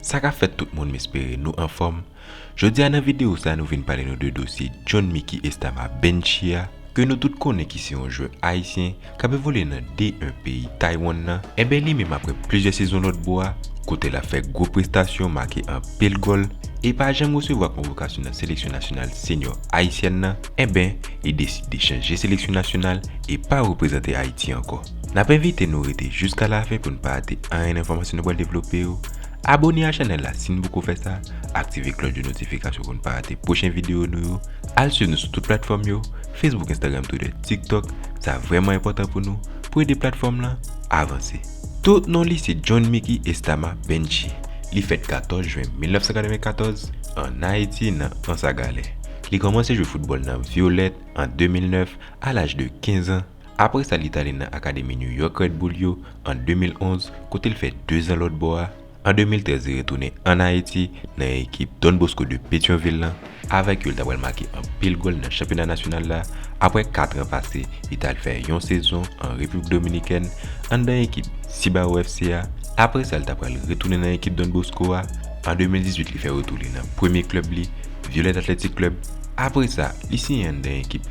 Sa ka fèt tout moun m espere nou anfòm, jodi a nan videyo sa nou vin pale nou de dosye John Mickey Estama Benchy a ke nou tout konnen ki se yon jwè ayisyen k ap evolye nan D1 peyi Taywann nan, enben li menm aprè plizyè sezon lòtbò a kote l ap fè gwo prestasyon, make anpil gòl e pa janm resevwa konvokasyon nan seleksyon nasyonal senyò ayisyèn nan, enben li deside chanje seleksyon nasyonal e pa reprezante Ayiti ankò. N ap envite nou rete jiska lafen pou n pa rate anyen nan enfòmasyon nou pral devlope yo. Abone a chanèl la si n poko fè sa, aktive klòch de notifikasyon pou n pa rate pwochen videyo nou yo, al swiv nou sou tout platfòm yo, Facebook, Instagram, Twitter, TikTok, sa vrèman enpòtan pou nou, pou ede platfòm lan avanse. Tout non li se John Micky Estama Benchi. Li fèt 14 jen 1994, an Ayiti nan Ansagalè. Li kòmanse jwe foutbòl nan Violette an 2009, a laj de 15 an, apre sa li t ale nan akademi New York Red Bull yo an 2011 kote l fè 2 zan lòt bò a, An 2013 li retounen an Ayiti nan ekip Don Bosco de Petyonvil lan, avèk yo l ta pral make anpil gòl nan chanpyona nasyonal la, aprè katran pase li t al fè yon sezon an Repiblik Dominikèn anndan ekip Cibao FC a, aprè sa l ta pral retounen nan ekip Don Bosco a, an 2018 li fè retou li nan premye klèb li Violette Athletic Club, aprè sa li siyen anndan ekip.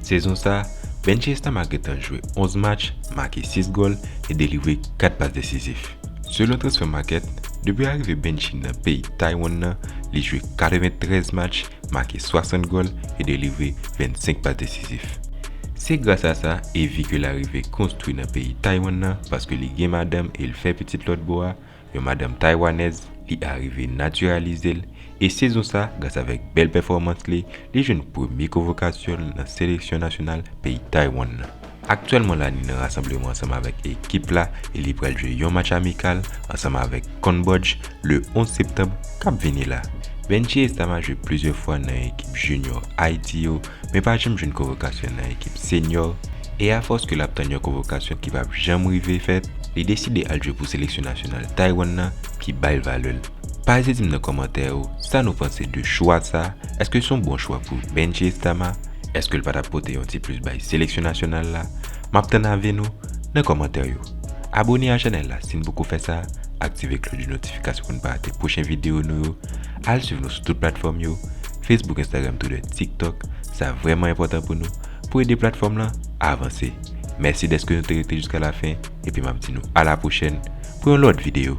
Sezon sa, Benji Estama gentan jwe 11 match, make 6 gòl e delivre 4 pas desizif. Selon Transfer Market, depi arive Benji nan peyi Taiwan nan, li jwe 93 match, make 60 gòl e delivre 25 pas desizif. Se gras a sa Evy ke l arive konstwi nan peyi Taiwan nan paske li gen madanm e l fè pitit lòt bò a, Yon madanm Taywanèz, li arive natiralize l e sezon sa gras avèk bèl pèfòmans li, li jwenn premye konvokasyon l nan seleksyon nasyonal peyi Taywann nan. Aktyèlman la li nan rasanbleman ansanm avèk ekip la e li pral jwe yon match amikal ansanm avèk Konbòdj le 11 septanb kap vini la. Benjie Estama jwe plizyè fwa nan ekip junior Ayiti yo men pa janm jwenn konvokasyon nan ekip senyò e afòs ke lap tann yon konvokasyon ki pap janm rive fèt, li deside al jwe pou seleksyon nasyonal Taiwan nan ki bay l valè l. Pase di m nan kòmantè yo sa nou panse de chwa sa, èske son bon chwa pou benshe Estama, èske l pa tap pote yon ti plis bay seleksyon nasyonal la, map tann avi nou nan kòmantè yo. Abone a chanèl la si n poko fè sa, aktive kloch de notifikasyon pou n pa rate pwochen videyo nou yo. Al swiv nou sou tout platfòm yo, Facebook Instagram Twitter TikTok, sa vrèman enpòtan pou nou, pou ede platfòm lan avanse. Mèsi dèske nou te rete jiska lafen epi map di nou ala pwochèn pou yon lòt video.